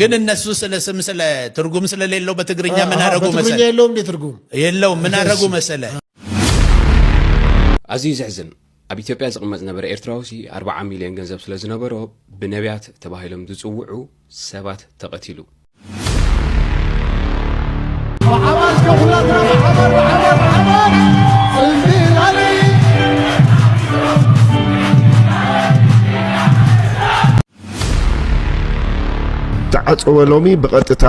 ግን እነሱ ስለ ስም ስለ ትርጉም ስለሌለው በትግርኛ ምን አረጉ መሰለ የለውም እንዴ ትርጉም የለውም ምን አረጉ መሰለ ኣዝዩ ዘሕዝን ኣብ ኢትዮጵያ ዝቕመጥ ዝነበረ ኤርትራውሲ 40 ሚልዮን ገንዘብ ስለ ዝነበሮ ብነቢያት ተባሂሎም ዝጽውዑ ሰባት ተቐቲሉ ተዓፀወ ሎሚ ብቐጥታ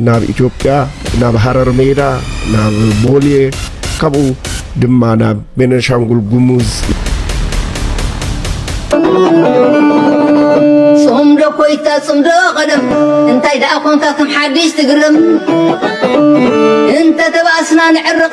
ናብ ኢትዮጵያ ናብ ሃረር ሜዳ ናብ ቦሌ ካብኡ ድማ ናብ ቤነሻንጉል ጉሙዝ ጽምዶ ኮይታ ጽምዶ ቀደም እንታይ ደኣ ኮንካ ከም ሓድሽ ትግርም እንተ ተባእስና ንዕርቕ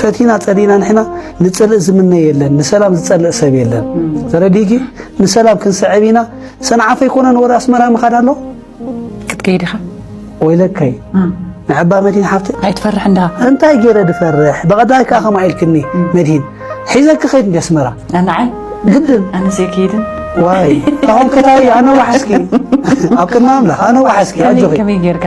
ፈቲና ጸሊና ንሕና ንጽልእ ዝምነ የለን ንሰላም ዝጸልእ ሰብ የለን ተረዲኪ ንሰላም ክንስዕብ ኢና ሰንዓፈ ኣይኮነን ወደ ኣስመራ ምኻድ ኣሎ ክትከይድ ኢኻ ወይለካይ ንዕባ መድሂን ሓፍቲ ኣይትፈርሕ እንዳ እንታይ ገይረ ድፈርሕ ብቐዳይ ከዓ ከምኣ ኢልክኒ መድሂን ሒዘ ክኸይድ እንዲ ኣስመራ ኣናዓይ ግድን ኣነ ዘይከይድን ዋይ ኣሁን ከታይ ኣነ ዋሓስኪ ኣብ ቅድሚ ኣምላኽ ኣነ ዋሓስኪ ኣጆኺ ከመይ ጌርካ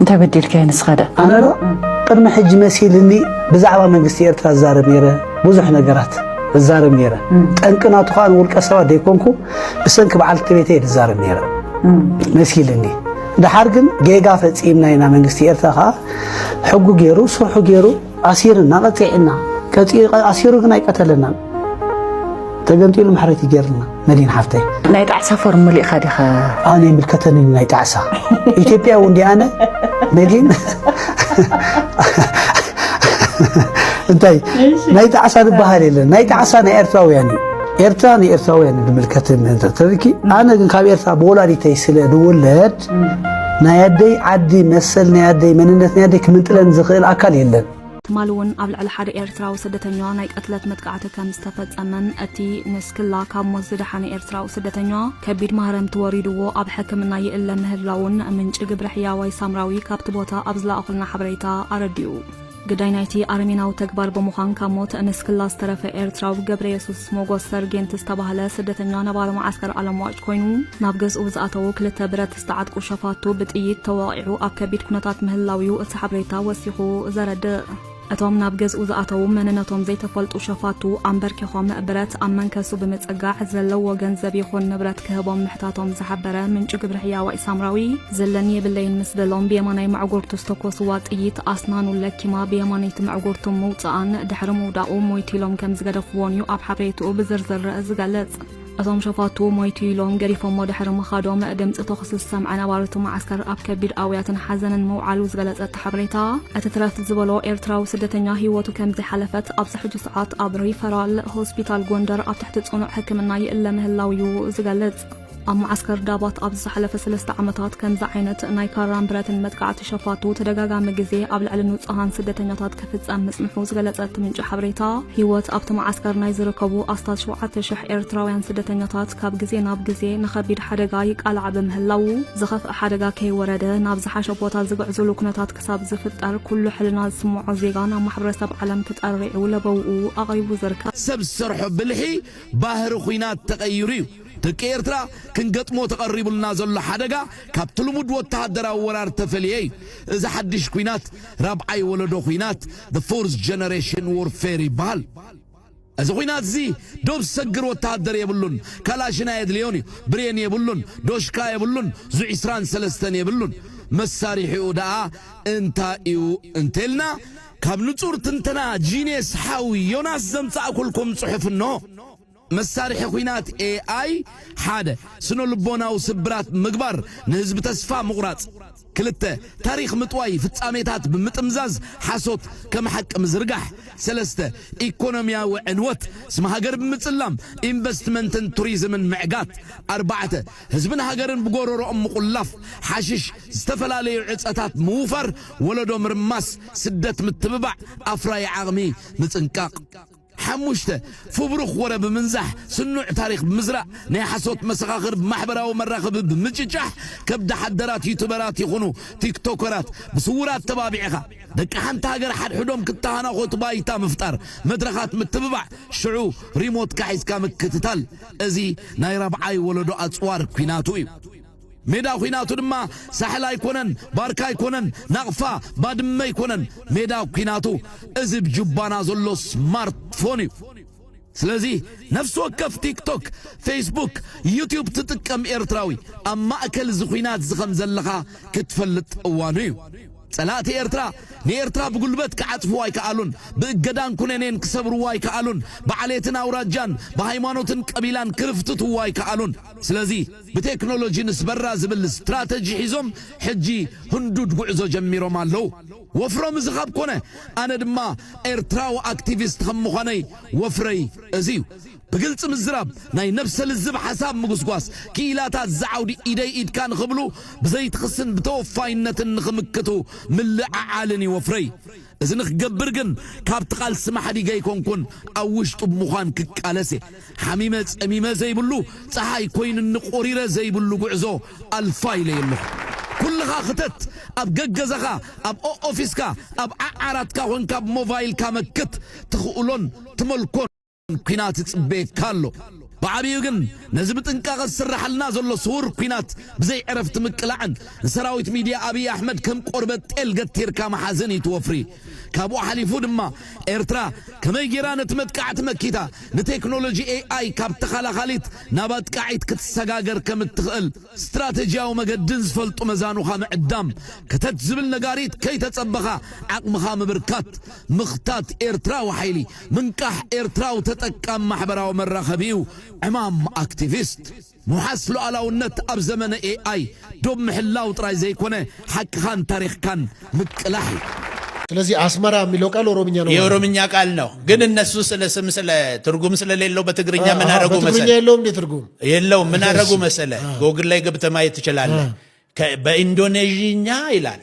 እንታይ በዲልካዮ ንስኻደ? ኣነ ዶ ቅድሚ ሕጂ መሲልኒ ብዛዕባ መንግስቲ ኤርትራ ዝዛረብ ነይረ፣ ብዙሕ ነገራት እዛረብ ነይረ። ጠንቂ ናቱ ከኣ ንውልቀ ሰባት ዘይኮንኩ ብሰንኪ በዓልቲ ቤተይ ዝዛረብ ነይረ መሲልኒ። ድሓር ግን ጌጋ ፈጺምና ኢና መንግስቲ ኤርትራ ከኣ ሕጉ ገይሩ ስርሑ ገይሩ ኣሲርና ቀጺዕና ቀጺዑ ኣሲሩ ግን ኣይቀተለናን ተገንጢሉ ማሕረይቲ ገይርና መዲን ሓፍተይ ናይ ጣዕሳ ፎርም መሊእኻ ዲኻ ኣነ ይምልከተኒ ናይ ጣዕሳ ኢትዮጵያ እውን ዲ ኣነ መዲን እንታይ ናይ ጣዕሳ ዝበሃል የለን ናይ ጣዕሳ ናይ ኤርትራውያን እዩ ኤርትራ ንኤርትራውያን ዝምልከት ተሪኪ ኣነ ግን ካብ ኤርትራ ብወላዲተይ ስለ ዝውለድ ናይ ኣደይ ዓዲ መሰል ናይ ኣደይ መንነት ናይ ኣደይ ክምንጥለን ዝኽእል ኣካል የለን። ትማሊ እውን ኣብ ልዕሊ ሓደ ኤርትራዊ ስደተኛ ናይ ቅትለት መጥቃዕቲ ከም ዝተፈጸመን እቲ ንስክላ ካብ ሞት ዝደሓነ ኤርትራዊ ስደተኛ ከቢድ ማህረምቲ ወሪድዎ ኣብ ሕክምና ይእለ ምህላዉን ምንጪ ግብረ ሕያዋይ ሳምራዊ ካብቲ ቦታ ኣብ ዝለኣኹልና ሓበሬታ ኣረዲኡ። ግዳይ ናይቲ ኣረሜናዊ ተግባር ብምዃን ካብ ሞት ንስክላ ዝተረፈ ኤርትራዊ ገብረየሱስ ሞጎስ ሰርጌንት ዝተባህለ ስደተኛ ነባሪ መዓስከር ኣለምዋጭ ኮይኑ ናብ ገዝኡ ዝኣተዉ ክልተ ብረት ዝተዓጥቁ ሸፋቱ ብጥይት ተወቒዑ ኣብ ከቢድ ኩነታት ምህላው እዩ እቲ ሓበሬታ ወሲኹ ዘረድእ። እቶም ናብ ገዝኡ ዝኣተዉ መንነቶም ዘይተፈልጡ ሸፋቱ ኣንበርኪኾም ብረት ኣብ መንከሱ ብምጽጋዕ ዘለዎ ገንዘብ ይኹን ንብረት ክህቦም ምሕታቶም ዝሓበረ ምንጪ ግብሪ ሕያዋይ ሳምራዊ ዘለኒ የብለይን ምስ በሎም ብየማናይ መዕጎርቱ ዝተኮስዋ ጥይት ኣስናኑ ለኪማ ብየማነይቲ መዕጎርቱ ምውፅኣን ድሕሪ ምውዳቑ ሞይቱ ኢሎም ከም ዝገደፍዎን እዩ ኣብ ሓበሬትኡ ብዝርዝር ዝገልጽ እቶም ሸፋቱ ሞይቱ ኢሎም ገዲፎሞ ድሕሪ ምኻዶም ድምፂ ተኹሲ ዝሰምዐ ነባሪ እቲ መዓስከር ኣብ ከቢድ ኣውያትን ሓዘንን ምውዓሉ ዝገለፀ እቲ ሓበሬታ እቲ ትረፍ ዝበሎ ኤርትራዊ ስደተኛ ህይወቱ ከም ዝሓለፈት ኣብዚ ሕጂ ሰዓት ኣብ ሪፈራል ሆስፒታል ጎንደር ኣብ ትሕቲ ፅኑዕ ሕክምና ይእለ ምህላው እዩ ዝገልጽ ኣብ መዓስከር ዳባት ኣብ ዝሓለፈ ሰለስተ ዓመታት ከምዚ ዓይነት ናይ ካራን ብረትን መጥቃዕቲ ሸፋቱ ተደጋጋሚ ግዜ ኣብ ልዕሊ ንጹሃን ስደተኛታት ክፍጸም ምጽንሑ ዝገለጸ እቲ ምንጪ ሓበሬታ ህይወት ኣብቲ መዓስከር ናይ ዝርከቡ ኣስታት ሸውዓተ ሽሕ ኤርትራውያን ስደተኛታት ካብ ግዜ ናብ ግዜ ንኸቢድ ሓደጋ ይቃላዕ ብምህላዉ ዝኸፍእ ሓደጋ ከይወረደ ናብ ዝሓሸ ቦታ ዝግዕዙሉ ኩነታት ክሳብ ዝፍጠር ኩሉ ሕልና ዝስምዖ ዜጋ ናብ ማሕበረሰብ ዓለም ተጠሪዑ ለበውኡ ኣቕሪቡ ዝርከብ። ሰብ ዝሰርሖ ብልሒ ባህሪ ኹናት ተቐይሩ እዩ። ደቂ ኤርትራ ክንገጥሞ ተቐሪቡልና ዘሎ ሓደጋ ካብቲ ልሙድ ወተሃደራዊ ወራር ተፈልየ እዩ። እዚ ሓድሽ ኲናት ራብዓይ ወለዶ ኲናት፣ The Fourth Generation Warfare፣ ይበሃል። እዚ ኲናት'ዚ ዶብ ዝሰግር ወተሃደር የብሉን፣ ካላሽን ኣየድልዮን እዩ፣ ብሬን የብሉን፣ ዶሽካ የብሉን፣ ዙ ዕስራን ሰለስተን የብሉን። መሳሪሒኡ ደኣ እንታይ'ዩ እንተልና ካብ ንጹር ትንተና ጂንየስ ሓው ዮናስ ዘምጻእኩልኩም ጽሑፍ እንሆ። መሳርሒ ኹናት ኤኣይ ሓደ። ስነልቦናዊ ስብራት ምግባር ንህዝቢ ተስፋ ምቑራጽ ክልተ። ታሪኽ ምጥዋይ ፍጻሜታት ብምጥምዛዝ ሓሶት ከም ሓቂ ምዝርጋሕ ሰለስተ። ኢኮኖሚያዊ ዕንወት ስም ሃገር ብምጽላም ኢንቨስትመንትን ቱሪዝምን ምዕጋት ኣርባዕተ። ህዝብን ሃገርን ብጎሮሮኦም ምቑላፍ ሓሽሽ ዝተፈላለዩ ዕጸታት ምውፋር ወለዶ ምርማስ ስደት ምትብባዕ ኣፍራዪ ዓቕሚ ምጽንቃቕ። ሓሙሽተ፣ ፍብሩኽ ወረ ብምንዛሕ፣ ስኑዕ ታሪኽ ብምዝራእ፣ ናይ ሓሶት መሰኻኽር ብማሕበራዊ መራኸቢ ብምጭጫሕ፣ ከብዳሓደራት ዩቱበራት ይኹኑ ቲክቶከራት ብስዉር ኣተባቢዕኻ፣ ደቂ ሓንቲ ሃገር ሓድሕዶም ክተሃናኾቱ ባይታ ምፍጣር፣ መድረኻት ምትብባዕ፣ ሽዑ ሪሞትካ ሒዝካ ምክትታል፣ እዚ ናይ ራብዓይ ወለዶ ኣጽዋር ኲናቱ እዩ። ሜዳ ኲናቱ ድማ ሳሕል ኣይኮነን፣ ባርካ ኣይኮነን፣ ናቕፋ፣ ባድመ ኣይኮነን፣ ሜዳ ኲናቱ እዚ ብ ጁባና ዘሎ ስማርት ፎን እዩ። ስለዚ ነፍሲ ወከፍ ቲክቶክ፣ ፌስቡክ፣ ዩቱብ ትጥቀም ኤርትራዊ ኣብ ማእከል እዚ ኲናትዚ ከም ዘለኻ ክትፈልጥ እዋኑ እዩ። ጸላእቲ ኤርትራ ንኤርትራ ብጉልበት ክዓጽፍዋ ኣይከኣሉን፣ ብእገዳን ኩነኔን ክሰብርዋ ኣይከኣሉን፣ ብዓሌትን ኣውራጃን፣ ብሃይማኖትን ቀቢላን ክርፍትትዋ ኣይከኣሉን። ስለዚ። ብቴክኖሎጂ ንስበራ ዝብል ስትራተጂ ሒዞም ሕጂ ህንዱድ ጉዕዞ ጀሚሮም ኣለዉ። ወፍሮም እዚ ካብ ኮነ ኣነ ድማ ኤርትራዊ ኣክቲቪስት ከም ምዃነይ ወፍረይ እዚ እዩ። ብግልጺ ምዝራብ፣ ናይ ነብሰ ልዝብ ሓሳብ ምጉስጓስ፣ ክኢላታት እዚ ዓውዲ ኢደይ ኢድካ ንኽብሉ ብዘይቲ ክስን ብተወፋይነትን ንኽምክቱ ምልዕዓልን እዩ ወፍረይ። እዚ ንኽገብር ግን ካብቲ ቃልሲ ማሕዲገ ኣይኮንኩን ኣብ ውሽጡ ብምዃን ክቃለስ እየ። ሓሚመ ጸሚመ ዘይብሉ ጸሓይ ኮይኑኒ ቁሪረ ዘይብሉ ጉዕዞ ኣልፋ ኢለዮ ኣለኹ ኩልኻ ክተት ኣብ ገገዛኻ ኣብ ኦኦፊስካ ኣብ ዓዓራትካ ኮንካ ብ ሞቫይልካ መክት ትኽእሎን ትመልኮን ኩናት ይጽበየካ ኣሎ ብዓቢኡ ግን ነዚ ብጥንቃቐ ዝስራሓልና ዘሎ ስዉር ኩናት ብዘይ ዕረፍቲ ምቅላዕን ንሰራዊት ሚድያ ኣብይ ኣሕመድ ከም ቆርበት ጤል ገቲርካ ምሓዝን እዩ እቲ ወፍሪ ካብኡ ሓሊፉ ድማ ኤርትራ ከመይ ጌራ ነቲ መጥቃዕቲ መኪታ ንቴክኖሎጂ ኤኣይ ካብ ተኸላኻሊት ናብ ኣጥቃዒት ክትሰጋገር ከም እትኽእል ስትራተጂያዊ መገድን ዝፈልጡ መዛኑኻ ምዕዳም፣ ከተት ዝብል ነጋሪት ከይተጸበኻ ዓቕምኻ ምብርካት። ምኽታት ኤርትራዊ ሓይሊ፣ ምንቃሕ ኤርትራዊ ተጠቃሚ ማሕበራዊ መራኸቢ'ዩ ዕማም ኣክቲቪስት። ምውሓስ ሉኣላውነት ኣብ ዘመነ AI ዶብ ምሕላው ጥራይ ዘይኮነ ሓቅኻን ታሪኽካን ምቅላሕ እዩ። ስለዚህ አስመራ የሚለው ቃል ኦሮምኛ ነው ማለት ነው። የኦሮምኛ ቃል ነው፣ ግን እነሱ ስለ ስም ስለ ትርጉም ስለሌለው በትግርኛ ምን አረጉ መሰለ በትግርኛ የለውም እንዴ ትርጉም የለውም። ምን አረጉ መሰለ ጎግል ላይ ገብተህ ማየት ትችላለህ። በኢንዶኔዥኛ ይላል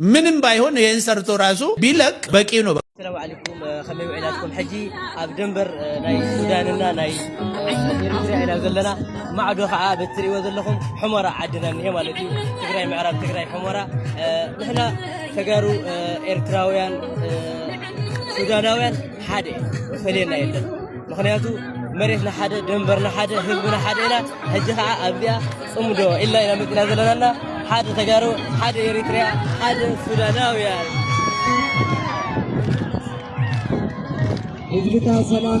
ምንም ባይሆን ይህን ሰርቶ ራሱ ቢለቅ በቂ ነው። ሰላም ዓለይኩም ከመይ ውዒላትኩም ሕጂ ኣብ ደንበር ናይ ሱዳንና ናይ ኤርትራ ኢና ዘለና ማዕዶ ከዓ በትሪእዎ ዘለኹም ሕሞራ ዓድና እኒሄ ማለት እዩ ትግራይ ምዕራብ ትግራይ ሕሞራ ንሕና ተጋሩ ኤርትራውያን ሱዳናውያን ሓደ ዝፈልየና የለን ምክንያቱ መሬትና ሓደ ደንበርና ሓደ ህዝብና ሓደ ኢና ሕጂ ከዓ ኣብዚኣ ፅምዶ ኢልና ኢና መፂና ዘለናና ሓደ ተጋሩ ሓደ ኤሪትሪያ ሓደ ሱዳናውያን ህዝብታ ሰላም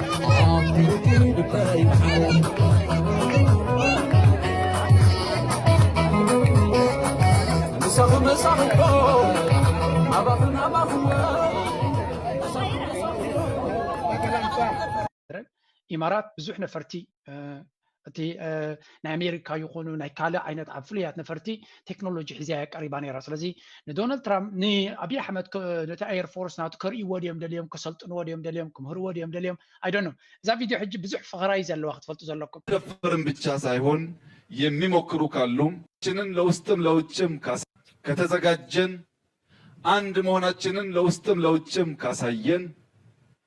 ኢማራት ብዙሕ ነፈርቲ እቲ ናይ ኣሜሪካ ይኹኑ ናይ ካልእ ዓይነት ኣብ ፍሉያት ነፈርቲ ቴክኖሎጂ ሒዚያ ቀሪባ ነይራ ስለዚ ንዶናልድ ትራምፕ ንኣብዪ ኣሕመድ ነቲ ኣየር ፎርስ ናቱ ከርእይዎ ድዮም ደልዮም ከሰልጥንዎ ድዮም ደልዮም ክምህርዎ ድዮም ደልዮም ኣይደኖ እዛ ቪድዮ ሕጂ ብዙሕ ፍቕራ እዩ ዘለዋ ክትፈልጡ ዘለኩም ደፍርም ብቻ ሳይሆን የሚሞክሩ ካሉም ችንን ለውስጥም ለውጭም ከተዘጋጀን አንድ መሆናችንን ለውስጥም ለውጭም ካሳየን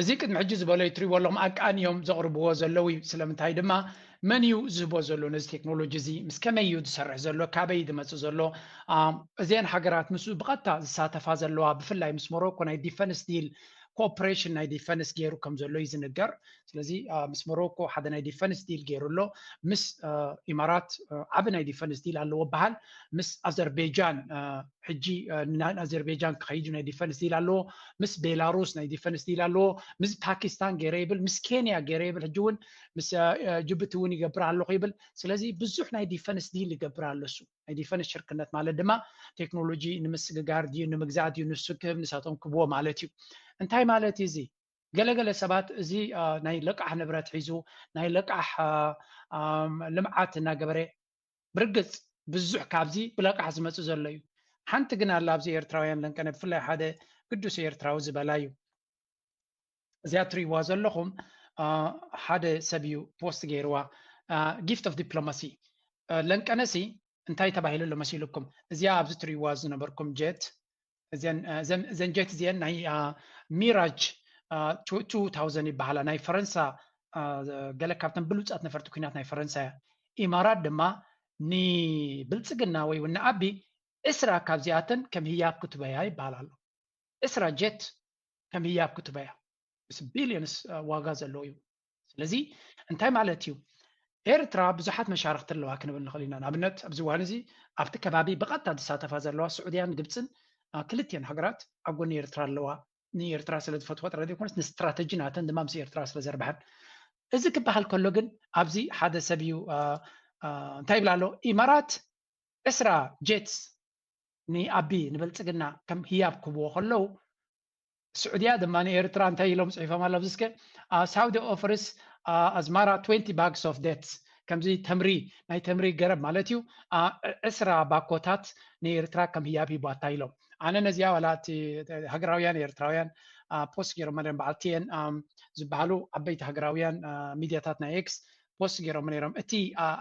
እዚ ቅድሚ ሕጂ ዝበሎ እዩ ትሪእዎ ኣለኹም ኣቃኒ እዮም ዘቕርብዎ ዘለዉ እዩ ስለምንታይ ድማ መን እዩ ዝህቦ ዘሎ ነዚ ቴክኖሎጂ እዚ ምስ ከመይ እዩ ዝሰርሕ ዘሎ ካበይ ዝመጽእ ዘሎ እዘን ሃገራት ምስ ብቐጥታ ዝሳተፋ ዘለዋ ብፍላይ ምስ ሞሮኮ ናይ ዲፈንስ ዲል ኮኦፕሬሽን ናይ ዲፈንስ ገይሩ ከም ዘሎ እዩ ዝንገር ስለዚ ምስ ሞሮኮ ሓደ ናይ ዲፈንስ ዲል ገይሩ ኣሎ ምስ ኢማራት ዓብ ናይ ዲፈንስ ዲል ኣለዎ በሃል ምስ ኣዘርቤጃን ሕጂ ናይ ኣዘርቤጃን ክኸይድ ናይ ዲፈንስ ዲል ኣለዎ ምስ ቤላሩስ ናይ ዲፈንስ ዲል ኣለዎ ምስ ፓኪስታን ገይረ ይብል ምስ ኬንያ ገይረ ይብል ሕጂ እውን ምስ ጅቡቲ እውን ይገብር ኣለኹ ይብል ስለዚ ብዙሕ ናይ ዲፈንስ ዲል ይገብር ኣሎ እሱ ናይ ዲፈንስ ሽርክነት ማለት ድማ ቴክኖሎጂ ንምስግጋር ድዩ ንምግዛእ ድዩ ንሱ ክህብ ንሳቶም ክብዎ ማለት እዩ እንታይ ማለት እዩ እዚ ገለገለ ሰባት እዚ ናይ ለቃሕ ንብረት ሒዙ ናይ ለቃሕ ልምዓት እናገበረ ብርግጽ ብዙሕ ካብዚ ብለቃሕ ዝመጽእ ዘሎ እዩ ሓንቲ ግን ኣላ ኣብዚ ኤርትራውያን ለንቀነ ብፍላይ ሓደ ግዱስ ኤርትራዊ ዝበላ እዩ እዚኣ ትርእይዋ ዘለኹም ሓደ ሰብ እዩ ፖስት ገይርዋ ጊፍት ኦፍ ዲፕሎማሲ ለንቀነሲ እንታይ ተባሂሉ ኣሎ መሲሉኩም እዚኣ ኣብዚ ትርእይዋ ዝነበርኩም ጀት እዘን እዘን እዘን ጀት እዚአን ናይ ሚራጅ ቱ ታውዘን ይበሃላ ናይ ፈረንሳ ገለ ካብተን ብሉፃት ነፈርቲ ኩናት ናይ ፈረንሳ እያ ኢማራት ድማ ንብልፅግና ወይ እውን ንኣቢ ዕስራ ካብዚኣተን ከም ህያብ ክትበያ ይበሃል ኣሎ ዕስራ ጀት ከም ህያብ ክትበያ ምስ ቢልዮንስ ዋጋ ዘለዎ እዩ ስለዚ እንታይ ማለት እዩ ኤርትራ ብዙሓት መሻርክቲ ኣለዋ ክንብል ንኽእል ኢና ንኣብነት ኣብዚ እዋን እዚ ኣብቲ ከባቢ ብቐጥታ ዝሳተፋ ዘለዋ ስዑድያን ግብፅን ክልትኤን ሃገራት ኣብ ጎኒ ኤርትራ ኣለዋ ንኤርትራ ስለ ዝፈትዋ ጥራይ ዘይኮነስ ንስትራተጂ ናተን ድማ ምስ ኤርትራ ስለ ዘርብሐን እዚ ክበሃል ከሎ ግን ኣብዚ ሓደ ሰብ እዩ እንታይ ይብላ ኣሎ ኢማራት ዕስራ ጀትስ ንኣቢ ንበልፅግና ከም ህያብ ክብዎ ከለዉ ስዑድያ ድማ ንኤርትራ እንታይ ኢሎም ጽሒፎም ኣለዉ ኣብዚ እስከ ሳውዲ ኦፈርስ ኣዝማራ 20 ባግስ ኦፍ ዴትስ ከምዚ ተምሪ ናይ ተምሪ ገረብ ማለት እዩ ዕስራ ባኮታት ንኤርትራ ከም ህያብ ሂቧታ ኢሎም ኣነ ነዚኣ ዋላ እቲ ሃገራውያን ኤርትራውያን ፖስት ገይሮም ነይሮም በዓል ቲኤን ዝበሃሉ ዓበይቲ ሃገራውያን ሚድያታት ናይ ኤክስ ፖስት ገይሮም ነይሮም እቲ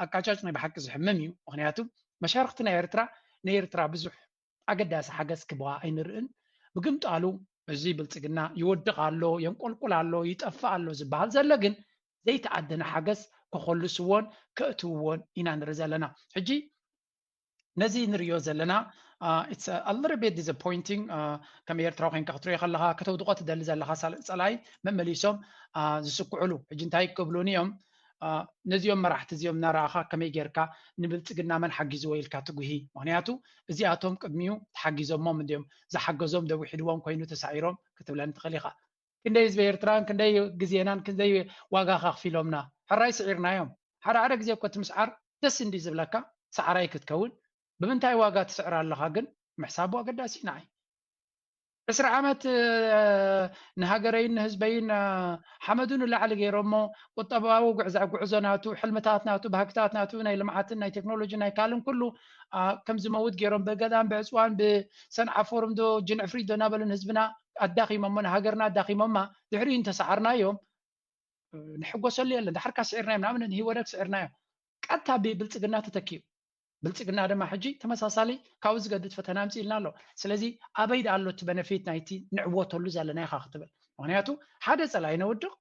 ኣቃጫጭ ናይ ብሓቂ ዝሕምም እዩ ምክንያቱ መሻርክቲ ናይ ኤርትራ ንኤርትራ ብዙሕ ኣገዳሲ ሓገዝ ክባ ኣይንርእን። ብግምጣሉ እዚ ብልጽግና ይወድቕ ኣሎ፣ የንቆልቁል ኣሎ፣ ይጠፍእ ኣሎ ዝበሃል ዘሎ ግን ዘይተኣደነ ሓገዝ ክኾልስዎን ከእትውዎን ኢና ንርኢ ዘለና። ሕጂ ነዚ ንርእዮ ዘለና ኢትስ ኣ ሊትል ቢት ዲስኣፖይንቲንግ ከም ኤርትራዊ ኮንካ ክትርእዮ ከለኻ ከተውድቖ ትደሊ ዘለኻ ጸላኢ መመሊሶም ዝስክዕሉ ሕጂ እንታይ ክብሉኒ እዮም ነዚኦም መራሕቲ እዚኦም እናረኣኻ ከመይ ጌርካ ንብልፅግና መን ሓጊዝዎ ኢልካ ትጉሂ? ምኽንያቱ እዚኣቶም ቅድሚኡ ተሓጊዞሞም እንድዮም፣ ዝሓገዞም ዶ ዊሒድዎም ኮይኑ ተሳዒሮም ክትብለኒ ትኽእል ኢኻ። ክንደይ ህዝቢ ኤርትራን ክንደይ ግዜናን ክንደይ ዋጋኸ ኣኽፊሎምና? ሕራይ ስዒርናዮም። ሓደ ሓደ ግዜ እኮ እቲ ምስዓር ደስ እንድዩ ዝብለካ፣ ሰዓራይ ክትከውን። ብምንታይ ዋጋ ትስዕር ኣለኻ ግን ምሕሳቡ ኣገዳሲ እዩ ንዓይ። ዕስራ ዓመት ንሃገረይን ንህዝበይን ሓመዱ ንላዕሊ ገይሮሞ ቁጠባዊ ጉዕዞ ናቱ ሕልምታት ናቱ ባህግታት ናቱ ናይ ልምዓትን ናይ ቴክኖሎጂን ናይ ካልእን ኩሉ ከም ዝመውት ገይሮም ብገዳም ብዕፅዋን ብሰንዓፎርም ዶ ጅንዕፍሪት ዶ እናበሉ ንህዝብና ኣዳኺሞሞ ንሃገርና ኣዳኺሞማ ድሕሪኡ እንተሰዓርናዮም ንሕጎሰሉ የለን ድሓርካ ስዒርናዮም ንኣብነት ንሂወደግ ስዒርናዮ ቀጥታ ብብልፅግና ተተኪኡ ብልፅግና ድማ ሕጂ ተመሳሳሊ ካብኡ ዝገድድ ፈተና ኣምፂኡልና ኣሎ ስለዚ ኣበይ ደኣ ኣሎ እቲ በነፊት ናይቲ ንዕወተሉ ዘለና ኢኻ ክትብል ምክንያቱ ሓደ ፀላኢ ነውድቕ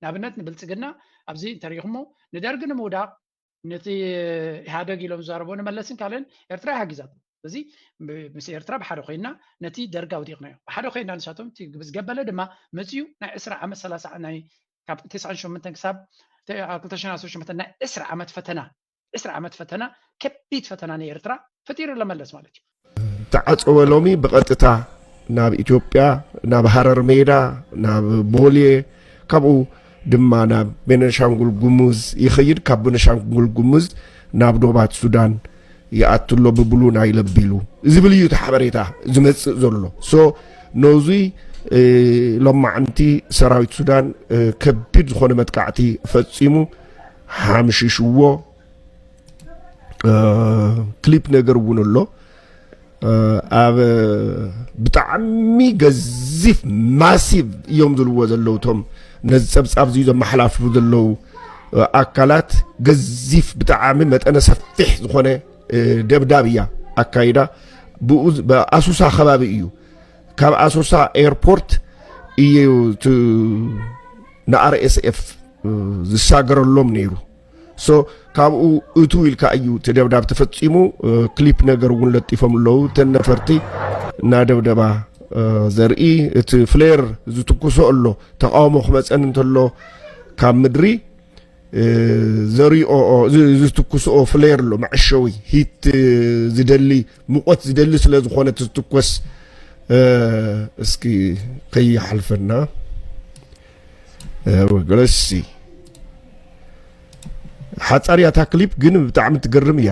ንኣብነት ንብልፅግና ኣብዚ እንተሪኢኹሞ ንደርጊ ንምውዳቕ ነቲ ኢህደግ ኢሎም ዝዛረቦ ንመለስን ካልእን ኤርትራ ይሓጊዛት እዚ ምስ ኤርትራ ብሓደ ኮይና ነቲ ደርጋ ኣውዲቕናዮ ብሓደ ኮይና ንሳቶም እቲ ዝገበለ ድማ መፅኡ ናይ ዕስራ ዓመት ሰላሳ ናይ ካብ ትስዓን ሸምንተን ክሳብ ክልተ ሽሕን ዓሰርተ ሸምንተን ናይ ዕስራ ዓመት ፈተና ዕስራ ዓመት ፈተና ከቢድ ፈተና ንኤርትራ ፈጢሩ ኣሎ መለስ ማለት እዩ። ተዓፀወ ሎሚ ብቐጥታ ናብ ኢትዮጵያ ናብ ሃረር ሜዳ ናብ ቦሌ ካብኡ ድማ ናብ ቤነሻንጉል ጉሙዝ ይኸይድ ካብ ቤነሻንጉል ጉሙዝ ናብ ዶባት ሱዳን ይኣቱ ኣሎ ብብሉ ናይ ለቢሉ ዝብል እዩ እቲ ሓበሬታ ዝመፅእ ዘሎ ሶ ነዙይ ሎማዓንቲ ሰራዊት ሱዳን ከቢድ ዝኾነ መጥቃዕቲ ፈፂሙ ሓምሽሽዎ ክሊፕ ነገር እውን ኣሎ ኣብ ብጣዕሚ ገዚፍ ማሲቭ እዮም ዝልዎ ዘለዉ እቶም ነዚ ፀብፃብ እዚ ዘመሓላልፉ ዘለዉ ኣካላት ገዚፍ ብጣዕሚ መጠነ ሰፊሕ ዝኾነ ደብዳብ እያ ኣካይዳ ብኣሱሳ ከባቢ እዩ ካብ ኣሶሳ ኤርፖርት እዩ ንኣርኤስኤፍ ዝሳገረሎም ነይሩ ሶ ካብኡ እቱ ኢልካ እዩ እቲ ደብዳብ ተፈፂሙ ክሊፕ ነገር እውን ለጢፎም ኣለዉ እተን ነፈርቲ እናደብደባ ዘርኢ እቲ ፍሌር ዝትኩሶ ኣሎ ተቃውሞ ክመፀን እንተሎ ካብ ምድሪ ዘሪኦኦ ዝትኩስኦ ፍሌር ኣሎ መዐሸዊ ሂት ዝደሊ ሙቆት ዝደሊ ስለ ዝኾነ ትትኮስ እስኪ ከይሓልፈና ረሲ ሓፃር እያ እታ ክሊፕ ግን ብጣዕሚ ትገርም እያ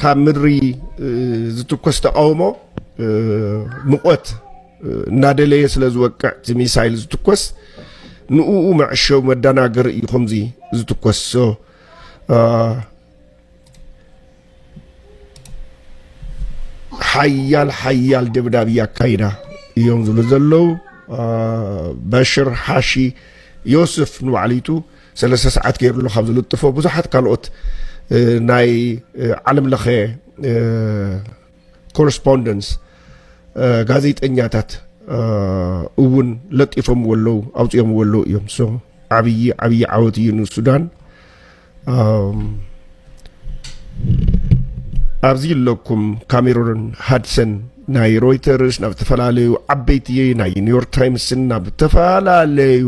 ካብ ምድሪ ዝትኮስ ተቃውሞ ሙቐት እናደለየ ስለ ዝወቅዕ እቲ ሚሳይል ዝትኮስ ንኡኡ መዕሸዊ መደናገሪ እዩ ከምዚ ዝትኮስ ሓያል ሓያል ደብዳብ እያካይዳ እዮም ዝብሉ ዘለው በሽር ሓሺ ዮስፍ ንባዕሊቱ ሰለስተ ሰዓት ገይርሉ ካብ ዝልጥፎ ብዙሓት ካልኦት ናይ ዓለም ለኸ ኮረስፖንደንስ ጋዜጠኛታት እውን ለጢፎምዎ ኣለዉ ኣውፅኦምዎ ኣለዉ እዮም ሶ ዓብዪ ዓብዪ ዓወት እዩ ንሱዳን ኣብዚ ኣለኩም ካሜሮን ሃድሰን ናይ ሮይተርስ ናብ ዝተፈላለዩ ዓበይቲ ናይ ኒውዮርክ ታይምስን ናብ ዝተፈላለዩ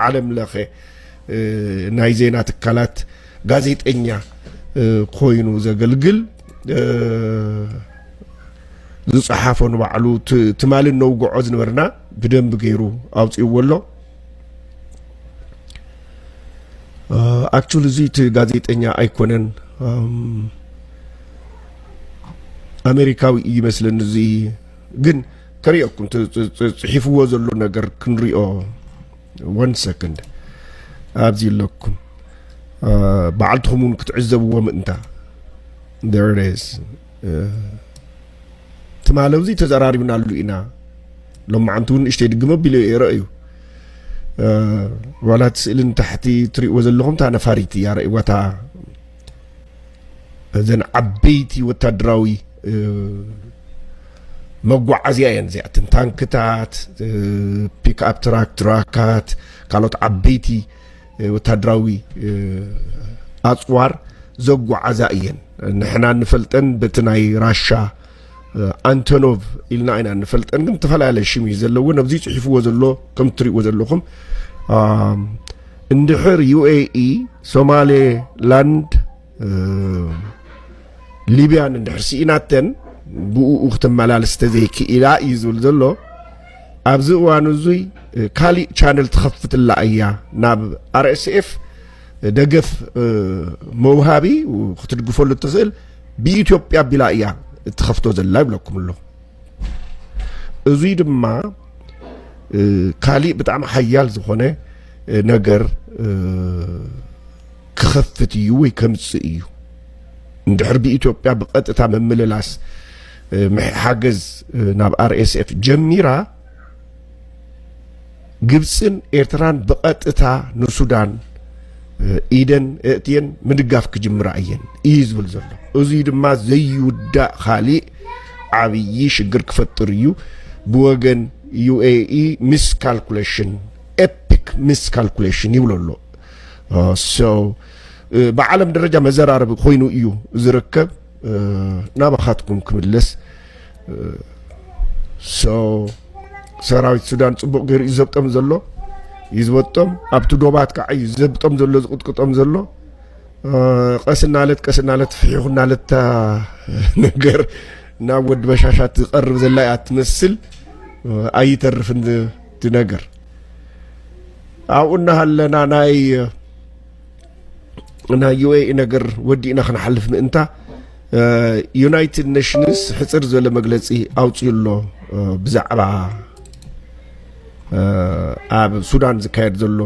ዓለም ለኸ ናይ ዜና ትካላት ጋዜጠኛ ኮይኑ ዘገልግል ዝፀሓፎ ንባዕሉ ትማሊ ነውግዖ ዝነበርና ብደንብ ገይሩ ኣውፅእዎ ኣሎ ኣክቹሊ እዚ እቲ ጋዜጠኛ ኣይኮነን ኣሜሪካዊ እዩ ይመስለኒ እዚ ግን ከሪኦኩም ፅሒፍዎ ዘሎ ነገር ክንሪኦ ወን ሰክንድ ኣብዚ ኣለኩም በዓልትኹም እውን ክትዕዘብዎ ምእንታ ደርስ ትማሊ እዚ ተዘራሪብናሉ ኢና ሎማዓንቲ እውን ንእሽተይ ድግመ ቢሎ የረ እዩ ዋላ እቲ ስእሊ ንታሕቲ ትሪእዎ ዘለኹም እታ ነፋሪት እያ ረእዋታ እዘን ዓበይቲ ወታደራዊ መጓዓዝያ እየን እዚኣተን ታንክታት ፒክኣፕ ትራክ ትራካት ካልኦት ዓበይቲ ወታደራዊ ኣፅዋር ዘጓዓዛ እየን ንሕና ንፈልጠን በቲ ናይ ራሻ ኣንቶኖቭ ኢልና ኢና ንፈልጠን ግን ዝተፈላለየ ሽም እዩ ዘለዎ ነብዚ ፅሒፍዎ ዘሎ ከም እትሪእዎ ዘለኹም እንድሕር ዩኤኢ ሶማሌ ላንድ ሊብያን እንድሕር ስኢናተን ብኡ ክተመላልስ ተዘይክኢላ እዩ ዝብል ዘሎ ኣብዚ እዋን እዙይ ካሊእ ቻነል ትኸፍትላ እያ ናብ ኣርኤስኤፍ ደገፍ መውሃቢ ክትድግፈሉ እትኽእል ብኢትዮጵያ ኣቢላ እያ እትኸፍቶ ዘላ ይብለኩም ኣሎ እዙይ ድማ ካሊእ ብጣዕሚ ሓያል ዝኾነ ነገር ክኸፍት እዩ ወይ ከምፅእ እዩ እንድሕር ብኢትዮጵያ ብቐጥታ ምምልላስ ሓገዝ ናብ ኣርኤስኤፍ ጀሚራ ግብጽን ኤርትራን ብቐጥታ ንሱዳን ኢደን እእትየን ምድጋፍ ክጅምራ እየን እዩ ዝብል ዘሎ እዙይ ድማ ዘይውዳእ ካሊእ ዓብዪ ሽግር ክፈጥር እዩ ብወገን ዩኤኢ ሚስ ካልኩሌሽን ኤፒክ ሚስ ካልኩሌሽን ይብሎ ኣሎ ብዓለም ደረጃ መዘራረቢ ኮይኑ እዩ ዝርከብ ናባኻትኩም ክምለስ ሰራዊት ሱዳን ፅቡቕ ገይሩ እዩ ዘብጦም ዘሎ እዩ ዝበጦም ኣብቲ ዶባት ከዓ እዩ ዘብጦም ዘሎ ዝቕጥቅጦም ዘሎ ቀስ እናለት ቀስ እናለት ፍሒኹ እናለታ ነገር ናብ ወዲ በሻሻት ዝቐርብ ዘላ እያ ትመስል ኣይተርፍን እቲ ነገር ኣብኡ እናሃለና ናይ ናይ ዩኤኢ ነገር ወዲእና ክንሓልፍ ምእንታ ዩናይትድ ኔሽንስ ሕፅር ዝበለ መግለፂ ኣውፅኡ ኣሎ ብዛዕባ ኣብ ሱዳን ዝካየድ ዘሎ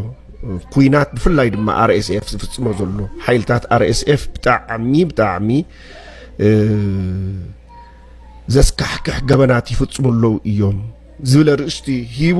ኩናት ብፍላይ ድማ ኣርኤስኤፍ ዝፍፅሞ ዘሎ ሓይልታት ኣርኤስኤፍ ብጣዕሚ ብጣዕሚ ዘስካሕክሕ ገበናት ይፍፅሙ ኣለዉ እዮም ዝብለ ርእስቲ ሂቡ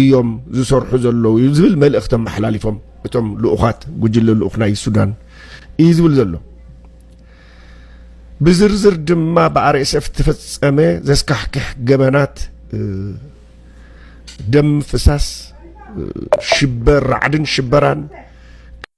እዮም ዝሰርሑ ዘለዉ እዩ ዝብል መልእኽቲ ኣመሓላሊፎም እቶም ልኡኻት ጉጅለ ልኡኽ ናይ ሱዳን እዩ ዝብል ዘሎ ብዝርዝር ድማ ብኣርኤስኤፍ ዝተፈፀመ ዘስካሕክሕ ገበናት ደም ፍሳስ ሽበር ራዕድን ሽበራን